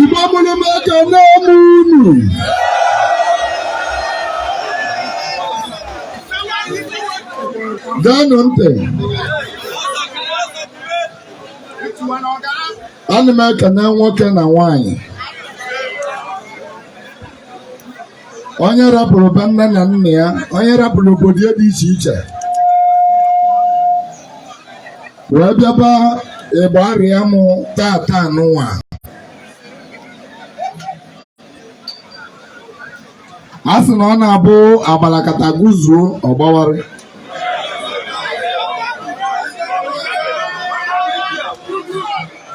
Igbo mụrụ m ekene m unu geenụ ntị ana m ekene nwoke na nwaanyị onye rapụrụ be nne na nna ya onye rapụrụ obodo ya dị iche iche wee bịaba Igbariam tata nwa a sị na ọ na-abụ agbalakata guzuo ọgbawara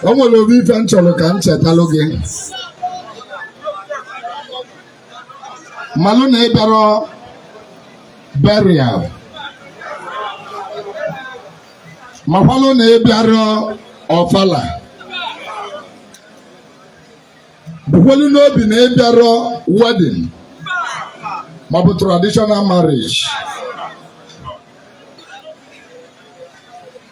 o nwere obele ife m chọrọ ka m chetalụ gị malụ na ị bịara burial makwalụ na ị bịara ọfala bukwelu n'obi na ị bịara wedding maọbụ traditional marriage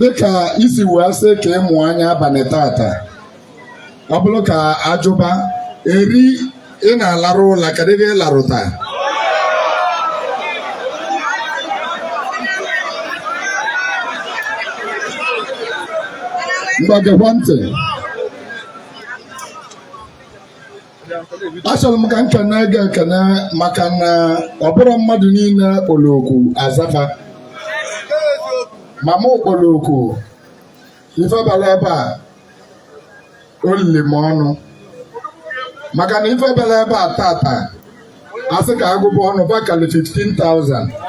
dịka i si wee sị ka ị mụ anya abalị tata ọ bụrụ ka a jụba eri ị na-alarụ ụla kedụ ife ị larụtaa ngwa gekwa ntị achọrọ m ka m kenee gị ekene maka na ọ bụrọ mmadụ niile kpọrọ oku a za fa ma mụ kpọrọ oku ife bara ebe a o lili m ọnụ maka na ife bara ebe a tata a sị ka a gụba ọnụ bakali 15,000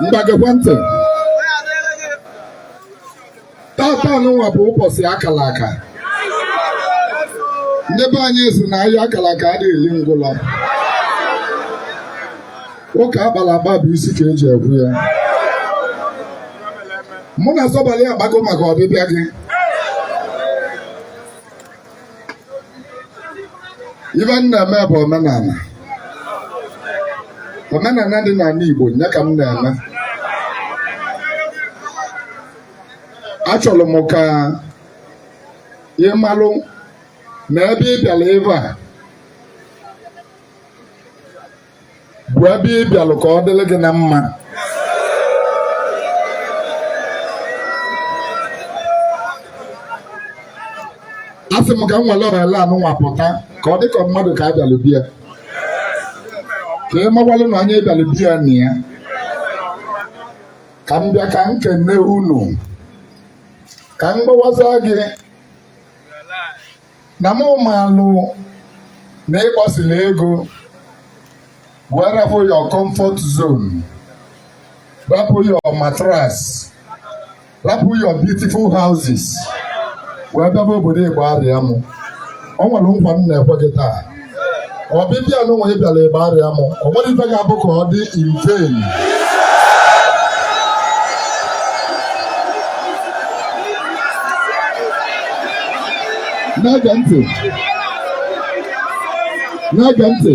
ngwa gekwa ntị tata nwa bụ ụbọchị a kara aka ndị be anyị si na agha a kara aka adịghị eli ngwụlọ ụka a kpara akpa bụ isi ka e ji ekwe ya mụ na Osebulụwa akpago maka ọbịbịa gị ife m na-eme bụ omenala omenala dị n'ala Igbo nya ka m na-eme achọrọ m ka ị malụ na ebe ị bịara ebe a bụ ebe ị bịalụ ka ọ dịrị gị na mma asị m ka m were ọrịa anụnwa pụta ka ọ dị ka mmadụ ka a bịalụ bịa ka ị mawalụ na onye bịalụ bịa na ya ka m bịa ka m kene unu ka m gbawaza gị na mụ maalụ na ịgbasila ego wee rapụ your comfort zone rapụ your mattress rapụ your beautiful houses wee bịaba obodo Igbariam o nwere nkwa m na-ekwe gị taa ọbịbịa nụnwa ị bịara Igbariam o nwerọ ife ga-abụ ka ọ dị in vain na-ege ntị na-ege ntị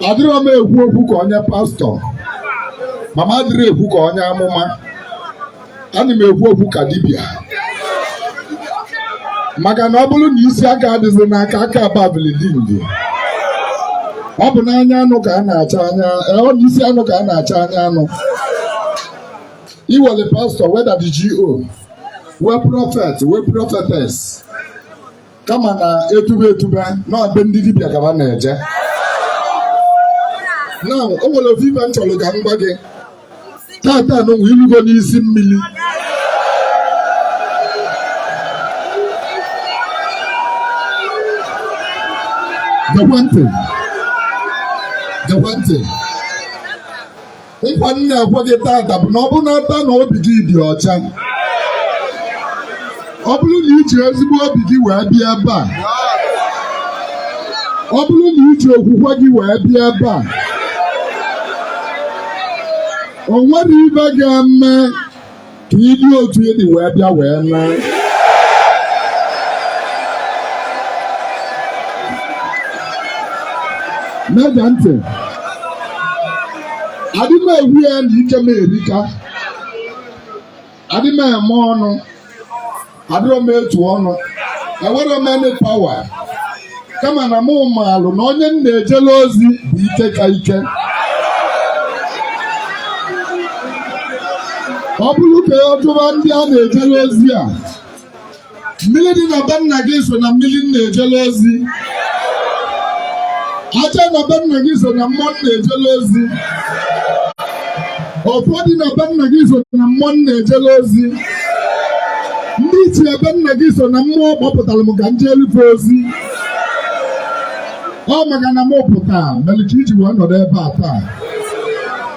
adịrọ m ekwu okwu ka onye pastor ma m adịrọ ekwu ka onye amụma ana m ekwu okwu ka dibịa maka na ọ bụrụ na isi aka adịzi n'aka aka ababilidindi ọ bụ n'anya anụ ka a na-achọ anya eh, ọ bụ isi anụ ka a na-achọ anya anụ e nwere pastor nwee daddy GO nwee prophet nwee prophetess kama na etube etube na be ndị dibịa ka ha na-eje na o nwere ofu ife m chọrọ ka m gwa gị tata nụnwa i lugo n'isi mmiri gekwa ntị nkwa m na-ekwe gị tata bụ na ọ bụrụ na ata na obi gị dị ọcha ọ bụrụ na iji ezigbo obi gị wee bịa ebe a ọ bụrụ na iji okwukwe gị wee bịa ebe a o nwerọ ife ga-eme ka ị dị otu ị dị wee bịa wee naa na-ege ntị adị m ekwu ya na ike m erika adị m eme ọnụ adịrọ m etu ọnụ enwerọ m any power kama na mụ maalụ na onye m na-ejele ozi bụ ike ka ike ọ bụrụ ka ọ jụwa ndị a na-ejele ozi a mmiri dị na be nna gị so na mmiri m na-ejele ozi ajana be nna gị so na mmụọ m na-ejele ozi ọfọ dị na be nna gị so na mmụọ na-ejelu ozi ndị ichie be nna gị so na mmụọ kpọpụtara m ka m jeelu fa ozi ọ maka na m pụta mere ka i ji wee nọdụ ebe a taa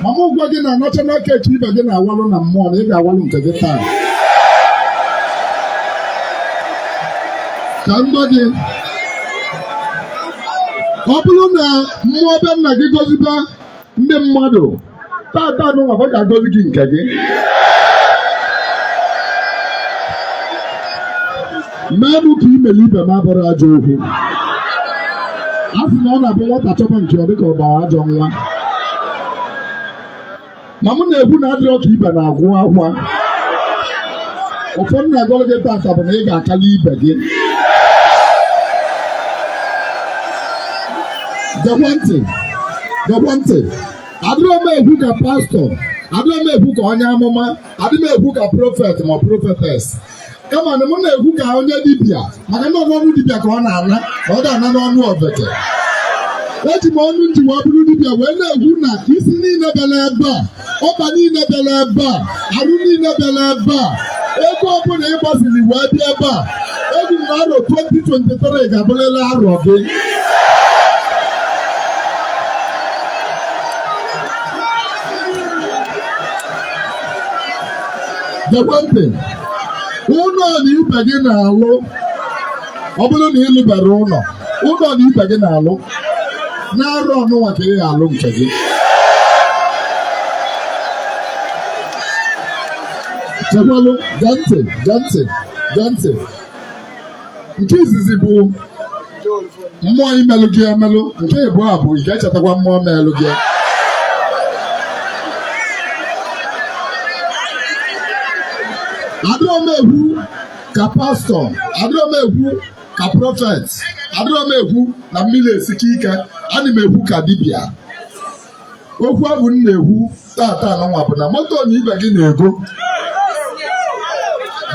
ma m gwa gị na national cake ibe gị na-awalụ na mmụọ na ị ga-awalụ nke gị taa ka m gwa gị ọ bụrụ na mmụọ be nna gị goziba ndị mmadụ tata n'ụwa ọ ga-agozi gị nke gị meelụ m ka i melụ ibe m abụrọ ajọ okwu a sị na ọ na-abụ nwata chọba nke ọ dịka ọ gbara ajọ nwa ma mụ na-ekwu na adịrọ ka ibe na-agwụ akwa ọfọ m na-agọrọ gị tata bụ na ị ga-akali ibe gị gekwa ntị gekwa ntị adịrọ m ekwu ka pastọ adịrọ m ekwu ka onye amụma adị m ekwu ka prọfet ma prọfetes kama na m na-ekwu ka onye dibịa maka na ọ n'ọnụ dibịa ka ọ na-ana ka ọ ga-ana n'ọnụ ofeke eji m ọnụ m ji wee bụrụ dibịa wee na-ekwu na isi niile bịara ebe a ọkpa niile bịara ebe a arụ niile bịara ebe a ego ọbụla ị gbaziri wee bịa ebe a ekwu na arọ 2023 ga-abụrịrị arọ gị gekwe ntị ụnọ na ibe gị na-alụ ọ bụrụ na ị lụberọ ụnọ ụnọ na ibe gị na-alụ n'arọ ọnụnwa ka ị ga-alụ nke gị chekwalụ gee ntị gee ntị gee ntị nke izizi bụ mmụọ imelụ gị emelụ nke ịbụa bụ ị ga-echetakwa mmụọ melụ gị adịrọ m ekwu ka pastọ adịrọ m ekwu ka prọfet adịrọ m ekwu na mmiri esike ike ana m ekwu ka dibịa okwu afụ m na-ekwu tata anụnwa bụ na moto na ibe gị na-ego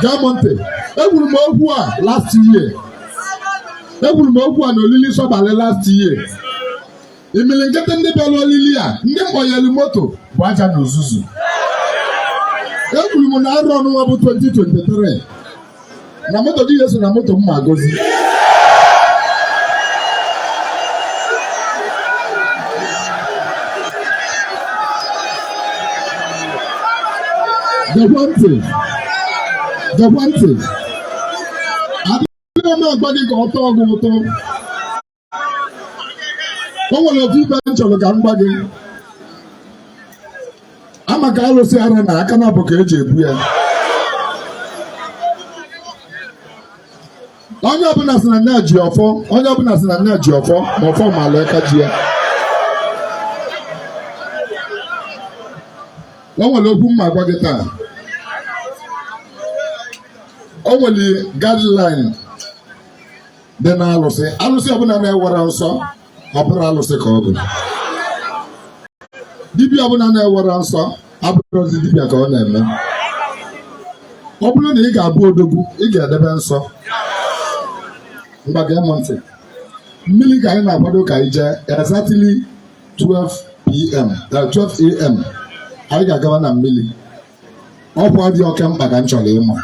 gee m ntị ekwuru m okwu a last year ekwuru m okwu a na olili sọbalị last year imilikiti ndị bịara olili a ndị mmụọ nyere moto bụ aja na uzuzu ekwuru m na arọ ọnụnwa bụ 2023 na moto gị ya-eso na moto m ma-agozi gekwa ntị gekwa ntị adịghị m agwa gị ka ọ tọọ gị ụtọ o nwere otu ife m chọrọ ka m gwa gị a ma ka alụsị ara na aka naabọ ka eji ebu ya onye ọbụla sị na nya ji ọfọ onye ọbụla sị na nya ji ọfọ ma ọfọ maalụ aka ji ya o nwere okwu m ma-agwa gị taa o nwere guideline dị na alụsị alụsị ọbụla na-enwerọ nsọ abụrọ alụsị ka ọ bụ dibịa ọbụla na-enwerọ nsọ abụrọzi dibịa ka ọ na-eme ọ bụrụ na ị ga-abụ odogwu ị ga-edebe nsọ ngwa gee m ntị mmiri ka anyị na-akwado ka anyị jee exactly 12 pm 12 am anyị ga-agaba na mmiri ọkwa dị oke mkpa ka m chọrọ ịma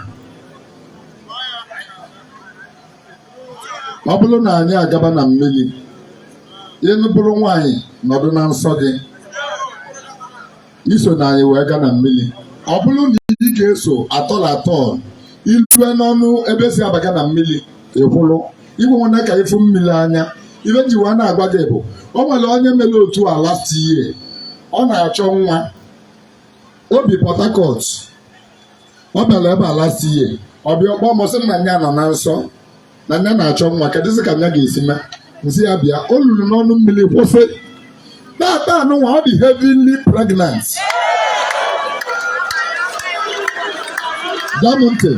ọ bụrụ na anyị agaba na mmiri ị bụrụ nwaanyị nọdụ na nsọ gị esona anyị wee gaa na mmiri ọ bụrụ na ị ga-eso at all at all i lue n'ọnụ ebe e si abaga na mmiri ị kwụrụ ekwekwana ka ị fụ mmiri anya ife m ji wee na-agwa gị bụ o nwere onye mere otu a last year ọ na-achọ nwa o bi Port Harcourt ọ bịara ebe a last year ọ bịa ọ kpọọ m ọ sị na nya nọ na nsọ na nya na-achọ nwa kedụzi ka nya ga-esi mee m sị ya bịa o luru n'ọnụ mmiri kwụsị tata anụnwa ọ dị heavily pregnant gee m ntị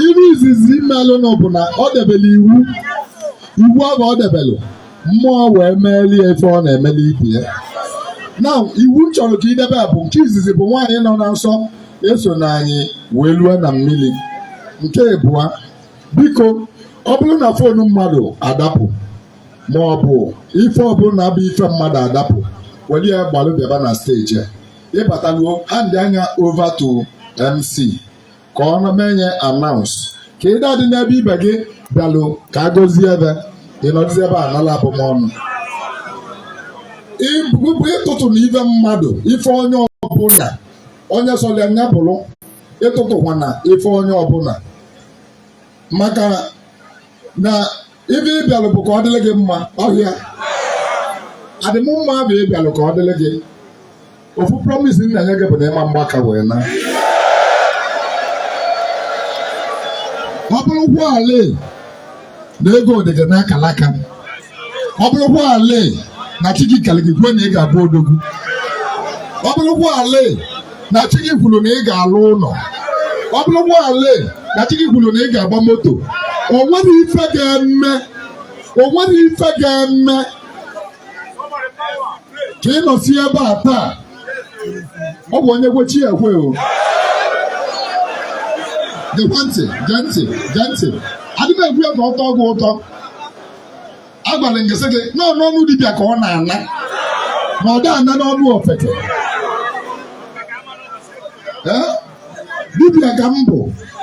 iru izizi imelụnụ bụ na o debere iwu iwu ahụ o debelụ mmụọ wee meeli ya ife ọ na-emeli ibe ya now iwu m chọrọ ka i debe a bụ nke izizi bụ nwaanyị nọ na nsọ esona anyị wee lue na mmiri nke ịbụa biko ọ bụrụ na fonu mmadụ adapụ ma ọ bụ ife ọbụla bụ ife mmadụ adapụ were ya gbalụ bịaba na steji a. ị bata luo handịa nya over to mc ka ọ na menye announce ka ị dadị n'ebe ibe gị bịalụ ka a gọzie ebe ị nọdụzi ebe a nala abụmọnụ ịtụtụna ife mmadụ ife onye ọbụla onye sọrọ ya nya bụrụ ịtụtụkwana ife onye ọbụla maka na ife ị bịalụ bụ ka ọ dịrị gị mma ọhịa adịm mma bụ ị bịalụ ka ọ dịrị gị ofu promise m na-enye gị bụ na ị ma-agba aka wee naa ọ bụrụkwaala na ego dị gị n'akala aka ọ bụrụkwaala na chi gị kere gị kwuo na ị ga-abụ odogwu ọ bụrụkwaala na chi gị kwuru na ị ga-alụ ụlọ ọ bụrụ nwaale na chi gị kwuru na ị ga-agba moto o nwere ife ga-eme o nwere ife ga-eme ka ị nọsi ebe a taa ọ bụ onye kwe chi ekwe o gekwa ntị gee ntị gee ntị adịghị m ekwu ya ka ọ tọọ gị ụtọ agwara m gị sị gị n'ọnụ dibịa ka ọ na-ana na ọ dị ana n'ọnụ ofeke dibịa ka m bụ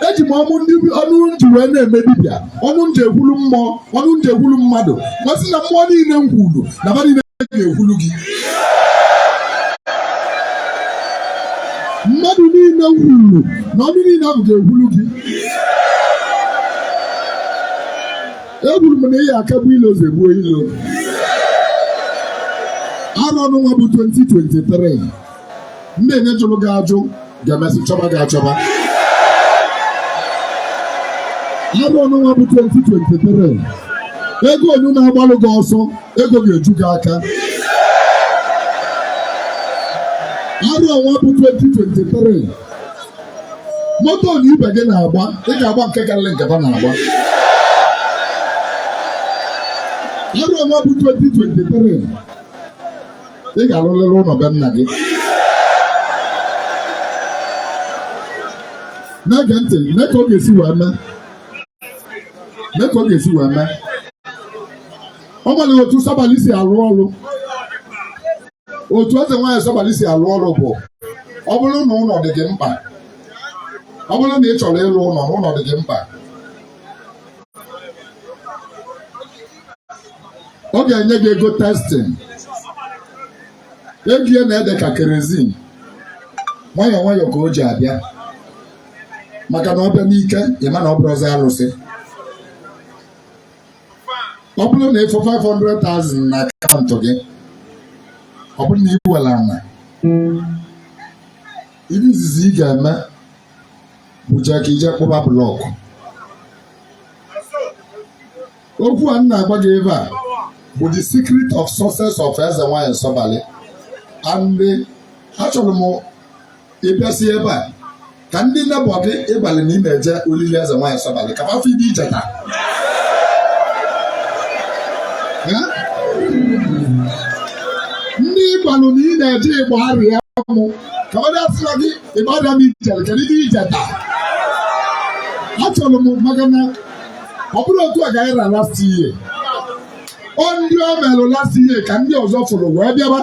eji m ọnụ m ji wee na-eme dibịa ọnụ m ji ekwulu mmụọ ọnụ m ji ekwulu mmadụ m asị na mmụọ niile m kwulu na ba niile ga-ekwulu gị mmadụ niile m kwulu na ọnụ niile ahụ ga-ekwulu gị ekwuru m na ị ya-akagbu ilo zọgbuo ilo arọ ọnụnwa bụ 2023 ndị nine jụrụ gị ajụ ga-emesị chọba gị achọba arọ ọnụnwa bụ 2023 ego onye na-agbalụ gị ọsọ ego ga-eju gị aka arọ ọnwa bụ 2023 moto ndị ibe gị na-agba ị ga-agba nke karịrị nke ha na-agba arọ ọnwa bụ 2023 ị ga-arụlịrị ụlọ be nna gị na-ege ntị ka ị ma ka ọ ga-esi wee mee o nwere otu sọbalị si arụ ọrụ otu eze nwaanyị Sọbali si alụ ọrụ bụ ọ bụrụ na ụlọ dị gị mkpa ọ bụrụ na ị chọrọ ịlụ ụlọ na ụlọ dị gị mkpa ọ ga-enye gị ego testing ego ya na-ede ka kerozin nwayọọ nwayọọ ka o ji abịa maka na ọ bịa n'ike ị ma na ọ bụrụzi alụsị ọ bụrụ na ị fụ 500,000 na akaụntụ gị ọ bụrụ na i nwere ana ihe izizi ị ga-eme bụcha ka i je kpụba blọkụ okwu a m na-agwa gị ebe a bụ the secret of success of eze nwanyị sọbalị and achọrọ m ị bịasị ebe a ka ndị nebọ gị ị gwalụ na ị na-eje olili eze nwaanyị sọbalị ka m afụ ibe i jeta ndị ị gwalụ na ị na-eje ịgba arịa mụ ka ọ dịasịla gị ịgba arịa m i jere kedu ibe i jeta achọrọ m maka na ọ bụrụ otu a ga-anyị rara tiye ọ ndị o melụ last year ka ndị ọzọ fụrụ wee bịaba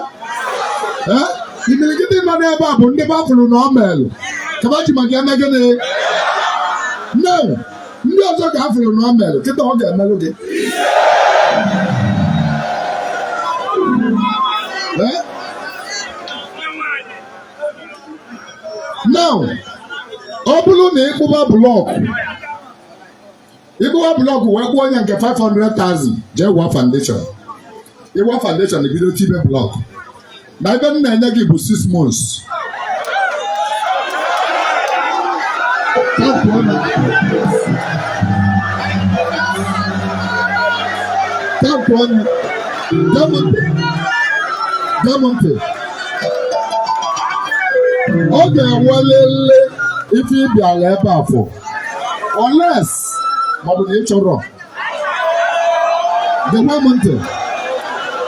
Eh? imirikiti nọ n'ebe a bụ ndị ba fụrụ na ọ melụ ka ba ji maka eme gịnị no ndị ọzọ ka a fụrụ na ọ melụ kịta ọ ga-emelụ gị Eh? now ọ bụrụ na ị kpụba blọkụ ị kpụba blọkụ wee kwụọ onye nke 500,000 jee waa foundation ị waa foundation ebido tibe blọkụ na ife m na-enye gị bụ 6 months tampụ ọnụ gee m ntị gee m ntị ọ ga-enwelele ife ị bịala ebe a for unless maọbụ na ị chọrọ gekwa m ntị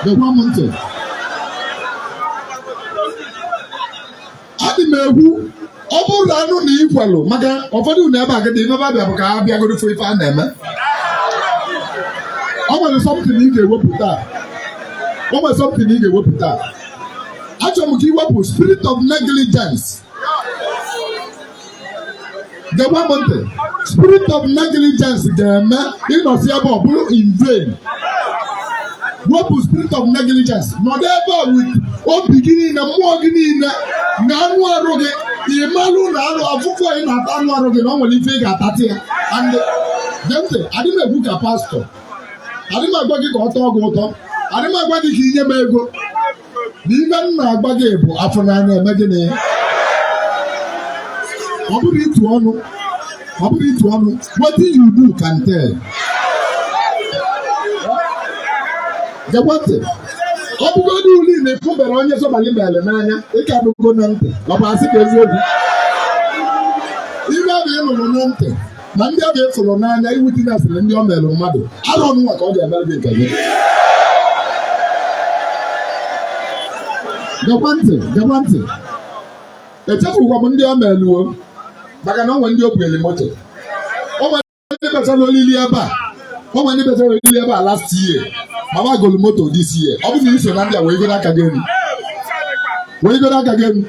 gekwa m ntị adị m ekwu ọ bụrụ na anụ na i kwelu maka ụfọdụ na ebe agadi ebe abịa bụ ka ha bịagoro fụ ife a na-eme o nwere something ị ga-ewepụta o nwere something ị ga-ewepụta achọrọ m ka i wepụ spirit of negligence geba m ntị spirit of negligence ga-eme ị nọsịa ebe a ọ bụrụ in vain wepụ spirit of negligence nọdụ ebe a with obi gị niile mmụọ gị niile na anụ arụ gị ị malụ na anụ afụfụ ị na-ata anụ arụ gị na ọ nwere ife ị ga-atatị ya and gee ntị adị m ekwu ka pastor adị m agwa gị ka ọ tọọ gị ụtọ adị m agwa gị ka i nye m ego na ife m na-agwa gị bụ afụ n'anya eme gịnị ọ bụrọ itu ọnụ ọ bụrọ itu ọnụ what you do can tell gewa ntị ọ bụgodụlị na ị fụberọ onye sọbalị mere n'anya ị ka anụgo na ntị ọ bụ asị ka eziokwu ife ọ bụ ị nụrụ na ntị ma ndị ọ ga-efụrụ n'anya iwu dị na asịrị ndị ọ mere mmadụ arọ nụnwa ka ọ ga-emere gị nke gị gekwa ntị gekwa ntị echefukwa m ndị ọ meluo maka na ọ nwere ndị o bunyere moto o nwere ndị bechara olili ebe a o nwere ndị bechara olili ebe a last year mana golu moto this year ọ bụrụ na i so na ndị a wegoro aka gị elu wegoro aka gị elu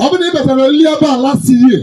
ọ bụrụ na ị bechara olili ebe a last year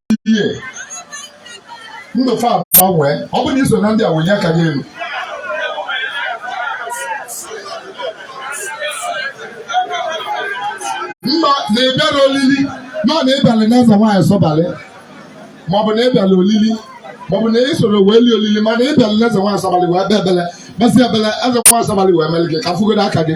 year ndụ fa agbanwee ọ bụrụ na i so na ndị a wenye aka gị elu ma na ịbịara olili ma na ịbịara n'eze nwaanyị sọbalị maọbụ na ịbịara olili maọbụ na ị soro wee lie olili mana ịbịara n'eze nwaanyị sọbalị wee bịa ekpele kpesị ekpele eze nwaanyị sọbalị wee mere gị ka a fụgodo aka gị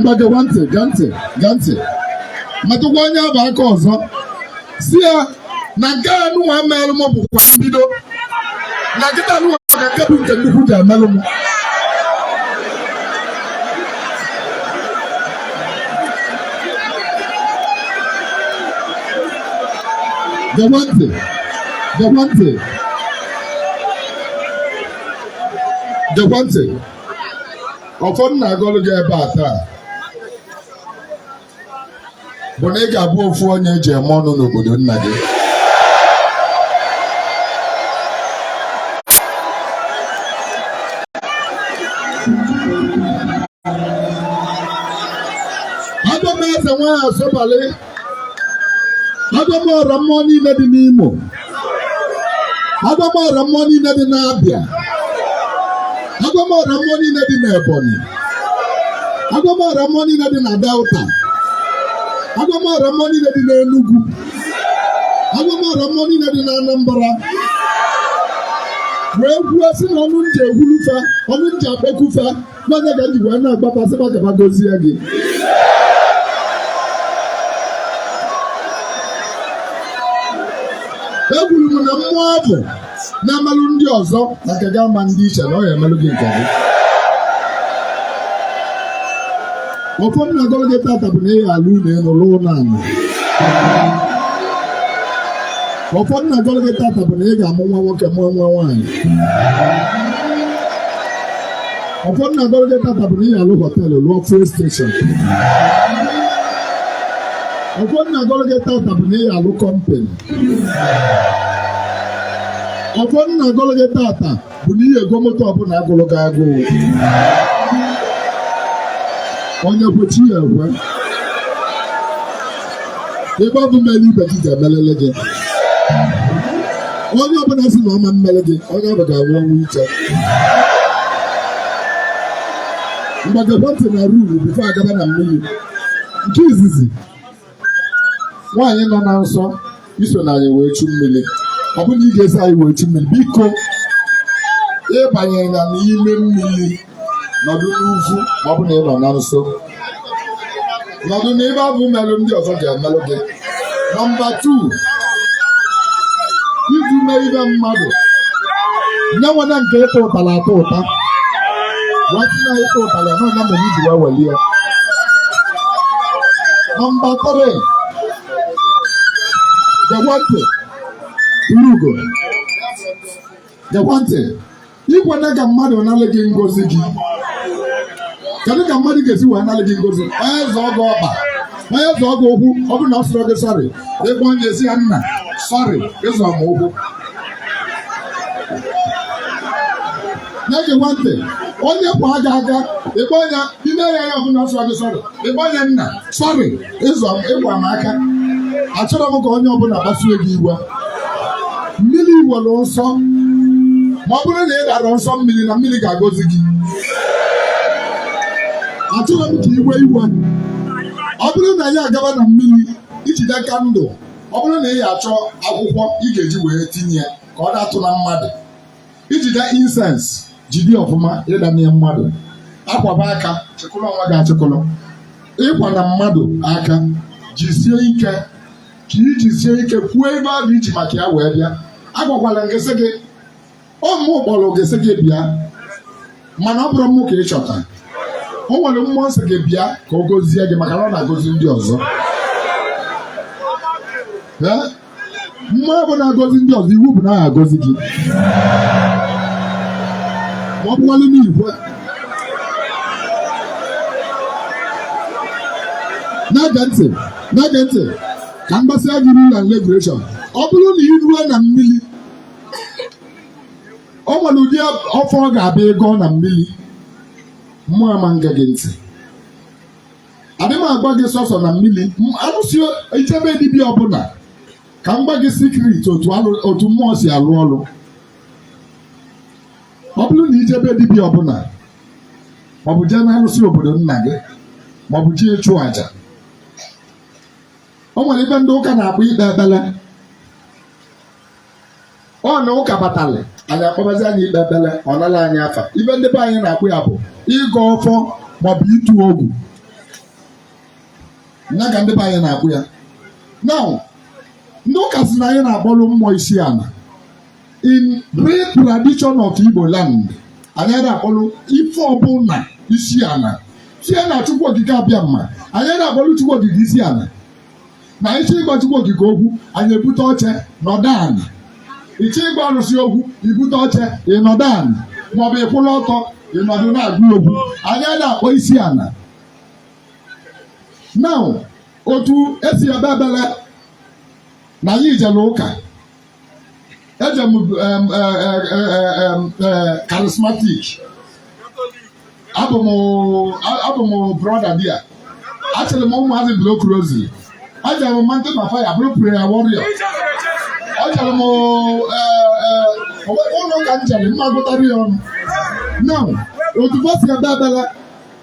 ngwa gekwa ntị gee ntị gee ntị metụkwa onye ọ bụ aka ọzọ sị ya na nke a nụnwa merụ m bụkwa mbido na kịta nụnwa ka nke bụ nke nnukwu ja-emelụ m gekwa ntị gekwa ntị gekwa ntị ọfọ m na-agọlụ gị ebe a taa bụ na ị ga-abụ ofu onye eji eme ọnụ n'obodo nna gị abụ m eze nwaanyị sọbalị agwa m ọra mmụọ niile dị n'Imo agwa m ọra mmụọ niile dị n'Abịa agwa m ọra mmụọ niile dị n'Ebonyi agwa m ọra mmụọ niile dị na Delta agwa m ọra mmụọ niile dị n'Enugu agwa m ọra mmụọ niile dị n'Anambra wee kwuo sị na ọnụ m ji ekwulu fa ọnụ m ji akpọku fa na ọ ya ka m ji wee na-agwa fa sị fa ka fa gozie gị ekwuru m na mmụọ afụ na-emelụ ndị ọzọ na ka ga ama ndị iche na ọ ya-emelụ gị nke gị ọfọ m na-agọrọ gị tata bụ na ị ya-alụ ụlọ elu lụọ ụlọ ala ọfọ m na-agọrọ gị tata bụ na ị ga-amụ nwa nwoke mụọ nwa nwaanyị ọfọ m na-agọrọ gị tata bụ na ị ya-alụ hotel lụọ fuel station ọfọ m na-agọrọ gị tata bụ na ị ya-alụ company ọfọ m na-agọrọ gị tata bụ na ị ya-ego moto ọbụla agụrụ gị agụụ onye kwe chi ya ekwe ebe ọ bụ na-emele ibe gị ga-emelele gị onye ọbụla sị na ọ ma-emere gị onye ọ bụ ga-anwụ ọnwụ ike ngwa gekwa ntị na rule before a gaba na mmiri nke izizi nwaanyị nọ na nsọ isona anyị wee chu mmiri ọ bụrụ na ị ga-eso anyị wee chu mmiri biko ịbanyena n'ime mmiri nọdụ n'ugwu ma ọ bụ na ị nọ na nsọ nọdụ n'ebe ọ bụ melụ ndị ọzọ ga-emelụ gị nọmba tu iji mee ibe mmadụ nye nwena nke ịta ụtara atọ ụta wati na ịta ụtara nọ na mere iji wee welie nọmba tiri Gekwa ntị i rugo gekwa ntị ikwena ka mmadụ nalị gị ngozi gị kedu ka mmadụ ga-esi wee nalị gị ngozi onye zọọ gị ọkpa onye zọọ gị ụkwụ ọ bụrụ na ọ sịrọ gị sọrị ị gwa onye sị ya nna sọrị ịzọ m ụkwụ na-egekwa ntị onye kwaa gị aka ịkpọ ya ime ya ya ọ bụrụ na ọ sịrọ gị sọrị ịkpọ ya nna sọrị ịzọ ịkwa m aka achọrọ m ka onye ọbụla kpasuo gị iwe mmiri nwere nsọ ma ọ bụrụ na ị darọ nsọ mmiri na mmiri ga-agọzi gị achọrọ m ka i wee iwe ọ bụrụ na anyị agaba na mmiri ijide kandụl ọ bụrụ na ị ya achọ akwụkwọ ị ga-eji wee tinye ya ka ọ datụna mmadụ ijide insens jide ọfụma ịda n'ihe mmadụ akwaba aka chekụlụ onwe gị achịkụlụ ịkwa na mmadụ aka jisie ike ka ijisie ike kwuo ife ọ bụ iji maka ya wee bịa agwakwala m gị sị gị ọ mụ kpọrọ gị sị gị bịa mana ọ bụrọ mụ ka ị chọta o nwere mmụọ sị gị bịa ka ọ gozie gị maka na ọ na-agozi ndị ọzọ Ee? mmụọ bụ na-agọzi ndị ọzọ iwu bụ na ọ ga-agọzi gị ma ọ bụkwalụ na ị kwe na-ege ntị na-ege ntị ka m gwasịa gị rule and regulation ọ bụrụ na ị ruo na mmiri ọ nwere ụdị ọfọ ị ga-abịa ịgọ na mmiri mmụọ ama ege gị ntị adị m agwa gị sọsọ na mmiri M- arụsị ijebe dibịa ọbụla ka m gwa gị sikrit otu alụ- otu mmụọ si alụ ọrụ ọ bụrụ na ijebe dibịa ọbụla maọbụ jee n'arụsị obodo nna gị maọbụ jee ịchụ àjà o nwere ife ndị ụka na-akpọ ikpe ekpere ọ na ụka batalị anyị akpọbazi anyị ikpe ekpere ọ nala anyị afa ife ndị be anyị na-akpọ ya bụ ịgọ ọfọ maọbụ ịtụ ogu ya ka ndị be anyị na-akpọ ya na ndị ụka sị na anyị na-akpọrọ mmụọ isi ala in real tradition of Igbo land anyị ada akpọrọ ife ọbụla isi ala sie na Chukwu Okike Abịama anyị ada akpọrọ Chukwu Okike isi ala na ịchọ ịgwa Chukwu okike okwu anyị ebute oche nọdụ ana ịchọ ịgwa arụsị okwu ibute oche ịnọdụ ana maọbụ ịkwụlụ ọtọ ịnọdụ na-agwa okwu anyị ada akpọ isi ana now otu esi ekpe ekpele na anyị ijele ụka eje m charismatic abụ m abụ m brother there achịrị m ụmụazị block rosary ejere m Mountain of Fire bụrụ prayer warrior ejere m ụlọ ụka m jere m ma agụta ya ọnụ now otu ba si ekpe ekpele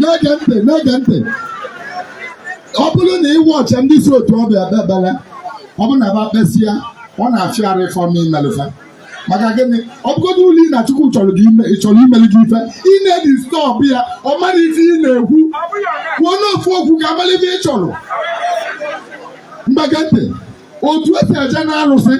na-ege ntị na-ege ntị ọ bụrụ na ị wụ chi ndị si otu ọbụ ekpe ekpele ọ bụrụ na ba kpesịa ọ na-afịa arụ ọfụma imelụ fa maka gịnị ọ bụgodulu na Chukwu chọrọ imelụ gị ife ị na-edisturb ya ọ marọ ife ị na-ekwu kwuonụ ofu okwu ka amara ife ị chọrọ ngwa gee ntị otu esi eje na arụsị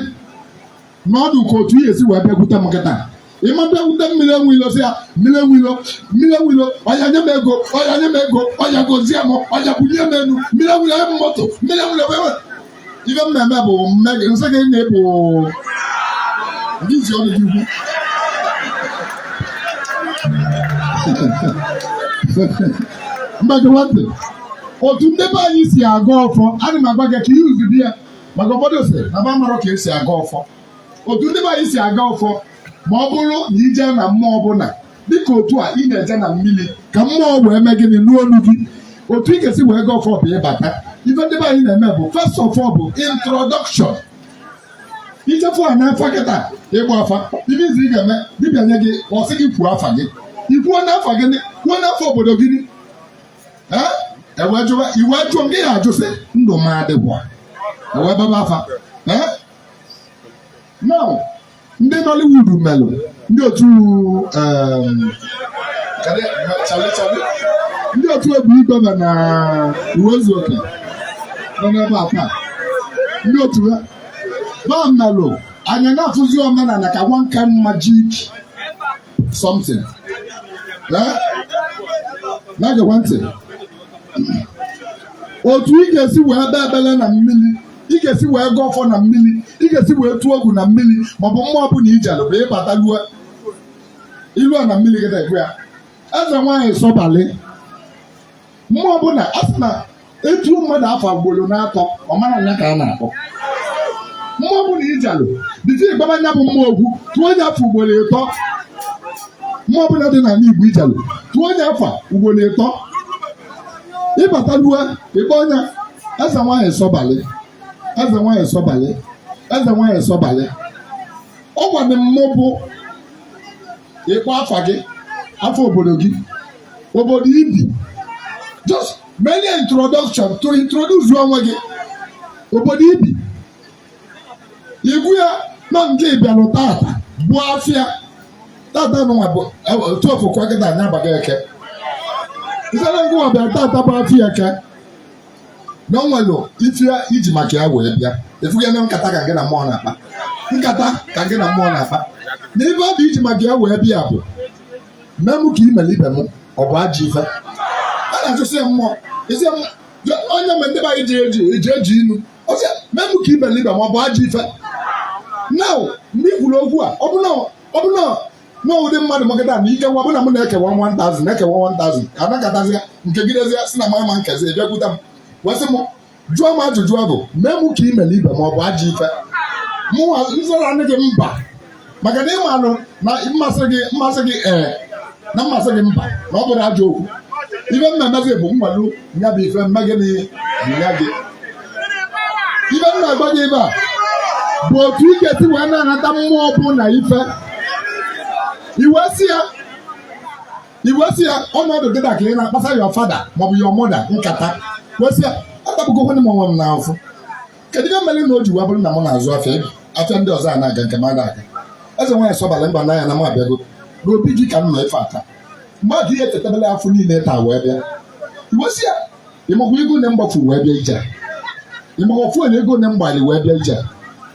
na ọ dị ka otu ị ya-esi wee bịakwute m kịta ị ma bịakwute mmiri enwe ilo sị ya mmiri enwe ilo mmiri enwe ilo ọya nye m ego ọya nye m ego ọya gozie m ọya bunye m enu mmiri enwe ilo m moto mmiri enwe ilo ewe ife m ya-eme bụ m mee gịnị sị gị na ịbụ ndị isi ọnụ gị ukwu ngwa gewa ntị otu ndị be anyị si agọ ọfọ ana m agwa gị ka iuzu di ya maka ụfọdụ sị na ba marọ ka esi agọ ọfọ otu ndị be anyị si agọ ọfọ ma ọ bụrụ na ije na mmụọ ọbụla dịka otu a ị na-eje na mmiri ka mmụọ wee mee gịnị nụ onu gị otu ị ga-esi wee gọọ ọfọ bụ ịbata ife ndị be anyị na-eme bụ first of all bụ introduction ije fụ onye afa kịta ịgba afa ife izizi ị ga-eme dibịa nye gị ọ sị gị kwuo afa gị ikwuo afa gị kwuo afa obodo gị ewee jụwa i wee jụọ m gị ya ajụsịa ndụ m ọ dịkwa ewee gbaba afa now ndị Nollywood melụ ndị otu ndị otu Obi Igwe na Uwaezuoke nọ n'ebe a taa ndị otu ha ba melụ anyị na-afụzi omenala ka one kind magic something na-egekwa ntị otu ị ga-esi wee kpee ekpele na mmiri ị ga-esi wee gọọ ọfọ na mmiri ị ga-esi wee tuo ogu na mmiri maọbụ mmụọ ọbụla ijelụ bụ ịbata lue ilue na mmiri gị na-ekwe ya eze nwaanyị sọbalị mmụọ ọbụla a sị na e tuo mmadụ afa ugboro n'atọ ọ mara nya ka a na-akpọ mmụọ ọbụna i jelu dịzi ịgbara nya bụ mmụọ okwu tuo nya afa ugboro ịtọ mmụọ ọbụla dị n'ala Igbo i jelu tuo nya afa ugboro ịtọ ị batalụ ị kpọọ nya eze nwaanyị sọbalị eze nwaanyị sọbalị eze nwaanyị sọbalị ọ gwadị mmụọ bụ ịkpọ afa gị afa obodo gị obodo i bi just mini introduction to introduce onwe gị obodo i bi ị gwa ya na nke ị bịalụ tata bụ afịa tata nụnwa bụ tuofu kwa gịda anya abaghị eke ifere ngwa ọbịa tata bụ afịa eke na o nwere ife i ji maka ya wee bịa ị fụghị na nkata ka gị na mmụọ na-akpa nkata ka gị na mmụọ na-akpa na ife ọ bụ i ji maka ya wee bịa bụ mee m ka i mere ibe m ọ bụ ajọ ife ị na-ajụzi ya mmụọ ị sị ya mmụọ. Ya, onye mgbe ndị be anyị ji eji eji eji inu ọ sị ya, mee m ka i mere ibe m ọ bụ ajọ ife now ndị kwuru okwu a ọ bụ na ọ bụ na na ụdị mmadụ magada na ike nwa bụ na m na-ekewa 1000 na-ekewa 1000 ka anakọtazi ya nke gidezi ya si na mama Nkechi bịakwute m wee sị m jụọ m ajụjụ ọ bụ mee mụ ka i mere ibe m ọ bụ ajọ ife mụ nzara gị mba maka na ị manụ na mmụọ sị gị mmụọ sị gị ee na mmụọ sị gị mba na ọ bụrọ ajọ okwu ife mmemme gị bụ mgbalu ya bụ ife mme gị na ya gị ife m na-agwa gị ebe a bụ otu ị ga-esi wee na-anata mmụọ bụ na ife i wee sị ya i wee sị ya ọnọdụ gị dịka ị na-akpasa your father maọbụ your mother nkata wee sị ya akpapụgo onwe m onwe m n'afọ kedu ihe mere na o ji wee bụrụ na m na-azụ afịa ebe afịa ndị ọzọ a na-aga nke m ada aga eze nwaanyị sọbalị mba n'anya na m abịago n'obi gị ka m nọ ife ata mmadụ ihe chetabela afọ niile taa wee bịa i wee sị ya ịmakwa ego na m gbafu wee bịa ije ịmakwa ofu onye ego na m gbali wee bịa ije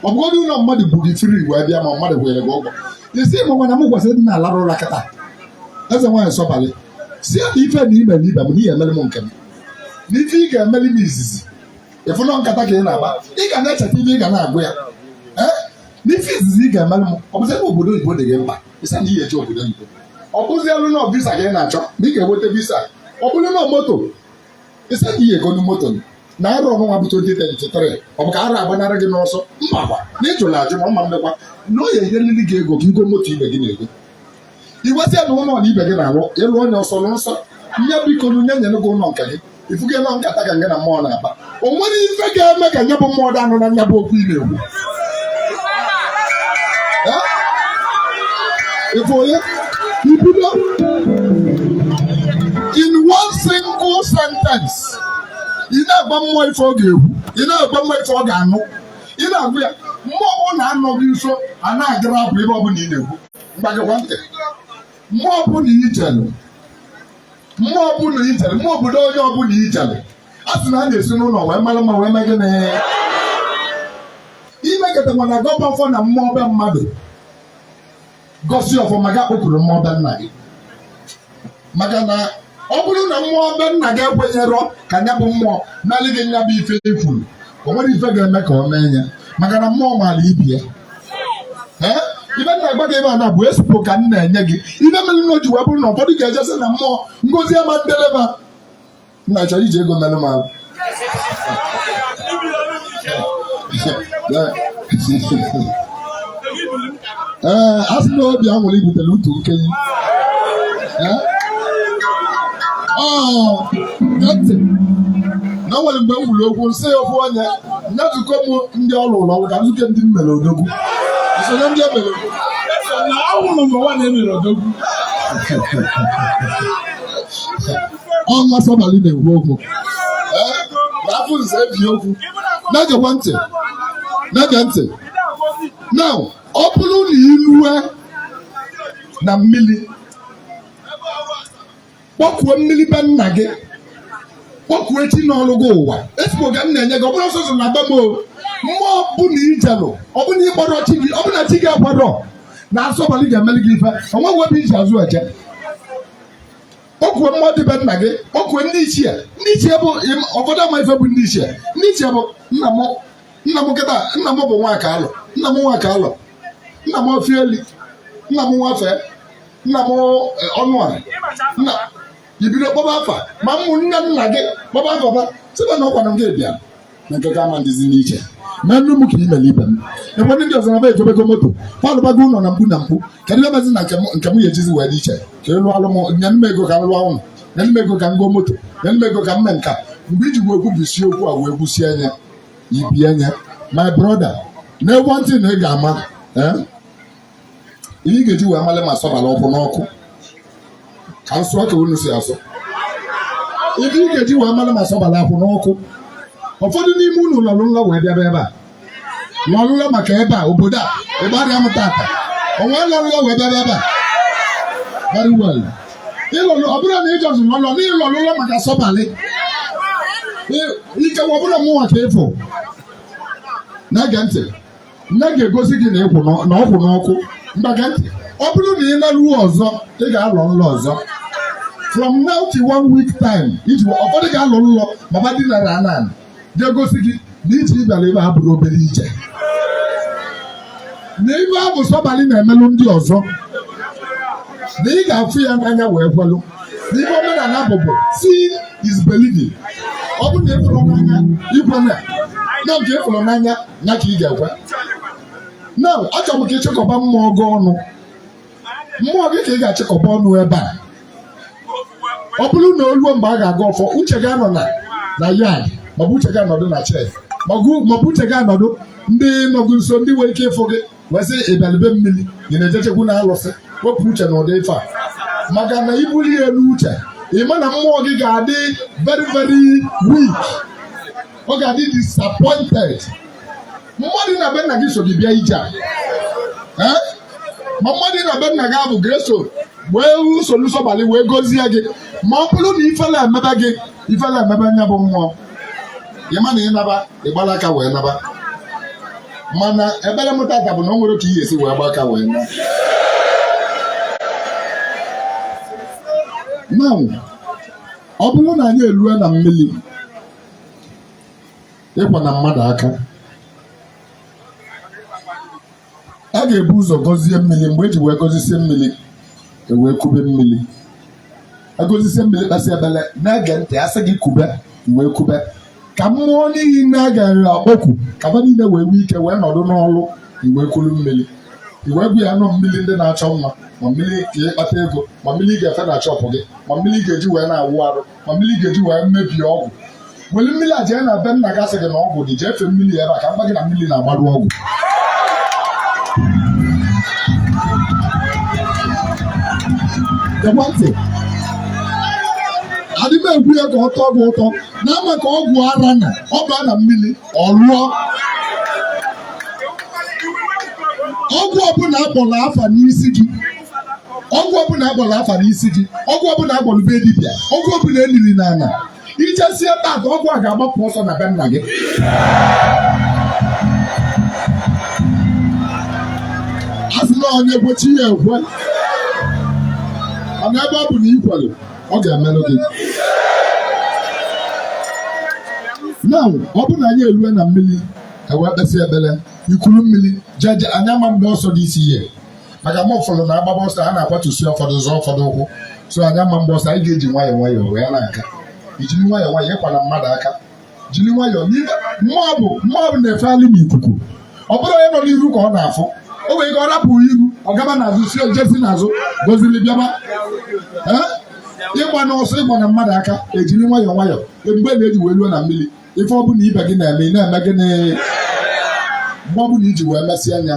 ọ bụgodị ụlọ mmadụ buru gị free wee bịa ma mmadụ kwụụrụ gị ụgwọ ị sị ịmakwa na m kwesịrị ịdị na-alarụ ụra kịta eze nwaanyị sọbalị sị ya na ife na ime na ibe m na ị ya-emere m nke m na ife ị ga-emeli m izizi ị fụ na nkata ka ị na-akpa ị ga na-echeta ife ị ga na-agwa ya ee na ife izizi ị ga-emere m ọ bụzi ebe obodo oyibo dị gị mkpa ị sị ya na ị ya-eje obodo oyibo ọ bụzi elu na visa ka ị na-achọ na ị ga-enweta visa ọ bụrụ na moto ị sị ya na ị ya-egonu moto na arọ nụnwa bụ 2023 ọ bụ ka arọ agbanara gị n'ọsọ mmakwa na ịjụla ajụ ma mma mmekwa na ọ ya-enyelili gị ego ka i go moto ibe gị na-ego i wee sị ya na ụlọ na ibe gị na-alụ ị lụọ nya ọsọ n'ọsọ nye biko na nye nyere gị ụlọ nke gị ị fụgo na nkata ka ngị na mmụọ na-akpa o nwere ife ga-eme ka nya bụ mmụọ dị anụ na nya bụ okwu ị na-ekwu ịfụ onye i bido in one single sentence ị na-agwa mmụọ ife ọ ga-ekwu ị na-agwa mmụọ ife ọ ga-anụ ị na-agwa ya mmụọ ọ na-anọ gị nso a na-egere bụ ife ọ bụla ị na-ekwu ngwa gekwa ntị mmụọ ọbụla i jelu mmụọ ọbụla i jelu mmụọ obodo onye ọbụla i jelu a sị na a na-esi n'ụlọ wee mara mma wee mee gịnị i mekata ma na-agọba ọfọ na mmụọ be mmadụ gọsie ọfọ ma ga kpọkuru mmụọ be nna gị maka na ọ bụrụ na mmụọ be nna gị ekwenyerọ ka nya bụ mmụọ meli gị nya bụ ife i kwuru o nwere ife ga-eme ka ọ mee ya maka na mmụọ maara ibe ya ee ife m na-agwa gị ebe a na ọ bụ expo ka m na-enye gị ife mere na o ji wee bụrụ na ụfọdụ ga-ejesi na mmụọ ngozi ama ndeleba nna chọrọ iji ego mere m ahụ ee a sị na obi a nwere ibutere utu nkenye ntị na o nwere mgbe m wuru okwu nsị ya okwu onye nyetụkọ m ndị ọrụ ụlọ ọrụ ka nzukọ ndị m mere odogwu nsonye ndị e mere na awụrụ m nwa na-emere odogwu ọnwa sọbalị na-ekwu okwu afọ nze ebi okwu na-egekwa ntị na-ege ntị na ọ bụrụ na i lue na mmiri kpọkuo mmiri be nna gị kpọkuo chi nọrụ gị ụwa expo ka m na-enye gị ọ bụrọ sọsọ na be m o mmụọ ọbụna i jelu ọbụna ị kpọrọ chi gị ọbụna chi gị akwadorọ na asọbalị ga-emeli gị ife o nweghị ebe i ji azụ eje kpọkuo mmụọ dị be nna gị kpọkuo ndị ichie ndị ichie bụ ụfọdụ ama ife bụ ndị ichie ndị ichie bụ nna m nna m kịta nna m bụ nwakalọ nna m nwakalọ nna m ofieli nna m nwafe nna m ọnụọra nna i bido kpọba afa ma ụmụnne nna gị kpọba afa ba sị ba na ọkwanụ gị bịa na nke gị ama dịzi n'iche meenụ m ka i mere ibe m ebe ndị ọzọ na ba egobego moto ba alụbago ụlọ na mkpu na mkpu kedu ihe mezi na nke m- nke m ga-ejizi wee dị iche ka ị lụọlụ m nye m ego ka m lụọ ụlọ nye m ego ka m goo moto nye m ego ka m mee nka mgbe i ji wee kwubisi okwu a wee gwusie anya ibie anya my brother na one thing ị ga-ama eh, ihe ị ga-eji wee male ma sọbalị ọ kwụ n'ọkụ ka m sụa ka unu si asụ ihe ị ga-eji wee male ma sọbalị akwụ n'ọkụ ụfọdụ n'ime unu lọrụ nlọ wee bịaba ebe a lọrụ nlọ maka ebe a obodo a ebe a rịa m tata onwe lọrụ nlọ wee bịaba ebe a very well ịlọrụ ọ bụrụ na ịjọzụ lọlọ na ịlọrụ nlọ maka sọbalị ikekwe ọ bụrụ mụnwa ka ịfụ na-ege ntị nke ga-egosi gị na ịkwụ n'ọ- na ọ kwụ n'ọkụ ngwa gee ntị ọ bụrụ na ị laruo ọzọ ị ga-alọ nlọ ọzọ from now to one week time iji ụfọdụ ga-alọ nlọ ma ba dinara ana ga-egosi gị na ije ị bịara ebe a abụrọ obere ije na ife afụ sọbalị na-emelụ ndị ọzọ na ị ga-afụ ya n'anya wee kwelụ na ife omenala bụ bụ seeing is believing ọ bụrụ na ịfụrụ n'anya ikwe na na nke ịfụrụ n'anya ya ka ị ga-ekwe na achọrọ m ka ịchịkọba mmụọ gị ọnụ mmụọ gị ka ị ga-achịkọba ọnụ ebe a ọ bụrụ na o ruo mgbe a ga-agọ ọfọ uche gị anọ na na yard maọbụ uche gị anọdụ na church maọbụ uche gị anọdụ ndị nọ gị nso ndị nwere ike ịfụ gị wee sị ị bịalụ be mmiri ị na-ejechekwu na alụsị wepụ uche na ụdị ife a maka na ibulu ya n'uche ị ma na mmụọ gị ga-adị very very weak ọ ga-adị disappointed mmadụ na be nna gị so gị bịa ije a Eh? ma mmadụ na be nna gị afụ ga-eso wee soro sọbalị wee gọzie gị ma ọ bụrụ na ifele emebe gị ifele emebe nya bụ mmụọ ịma na ịnaba ịgbala aka wee naba mana ekpere m tata bụ na o nwerọ ka ị ya-esi wee gba aka wee na now ọ bụrụ na anyị erue na mmiri ị kwana mmadụ aka a ga-ebu ụzọ gọzie mmiri mgbe eji wee gọzisie mmiri ewee kube mmiri agọzisie mmiri kpesị ekpele na-ege ntị asị gị kube wee kube ka mmụọ niile a ga-akpọku ka ba niile wee nwee ike wee nọdụ n'ọlụ i wee kuru mmiri i wee bụ ya nọ mmiri ndị na-achọ nwa ma mmiri ka ịkpata ego ma mmiri ị ga-efe na shop gị ma mmiri ị ga-eji wee na-awụ arụ ma mmiri ga-eji wee mebie ọgwụ weli mmiri a jee na be nna gị asị gị na ọgwụ dị jee fee mmiri ebe a ka m gwa gị na mmiri na-agbaru ọgwụ ekwentị adị m egwu ya ka ọ tọọ gị ụtọ na ama ka ọgwụ ara na ọ baa na mmiri ọ lụọ ọgwụ ọbụla akpọrọ afa n'isi gị ọgwụ ọbụla agwọrọ afa n'isi gị ọgwụ ọbụla agwọrọ be dibịa ọgwụ ọbụla eliri n'ala ijesie taa ọgwụ a ga-agbapụ ọsọ na be nna gị asị na onye gbochi ya ekwe mana ebe ọ bụ na ikwere ọ ga-emerụ gị na ọ bụ na anyị erue na mmiri ewee kpesịa ekpere ikuru mmiri jeje anyị ama agba ọsọ this year maka ma ụfọdụ na-agbaba ọsọ a na-akwatusi ụfọdụ zọọ ụfọdụ ụkwụ so anyị ama agba ọsọ anyị ga-eji nwayọọ nwayọọ wee na-aga ijiri nwayọọ nwayọọ ịkwala mmadụ aka jiri nwayọọ n'ihe mmụọ bụ mmụọ bụ na-efegharị n'ikuku ọ bụrụ onye nọ n'iru ka ọ na-afụ o nwere ike ọ rapụ iru ọ gaba n'azụ si o je si n'azụ goziri bịaba Ee? ịgbana ọsọ ịkwana mmadụ aka ejiri nwayọọ nwayọọ ebube na-eji wee ruo na mmiri ife ọ bụla ibe gị na-eme ị na-eme gịnị mgbe ọ bụla iji wee mesịa anya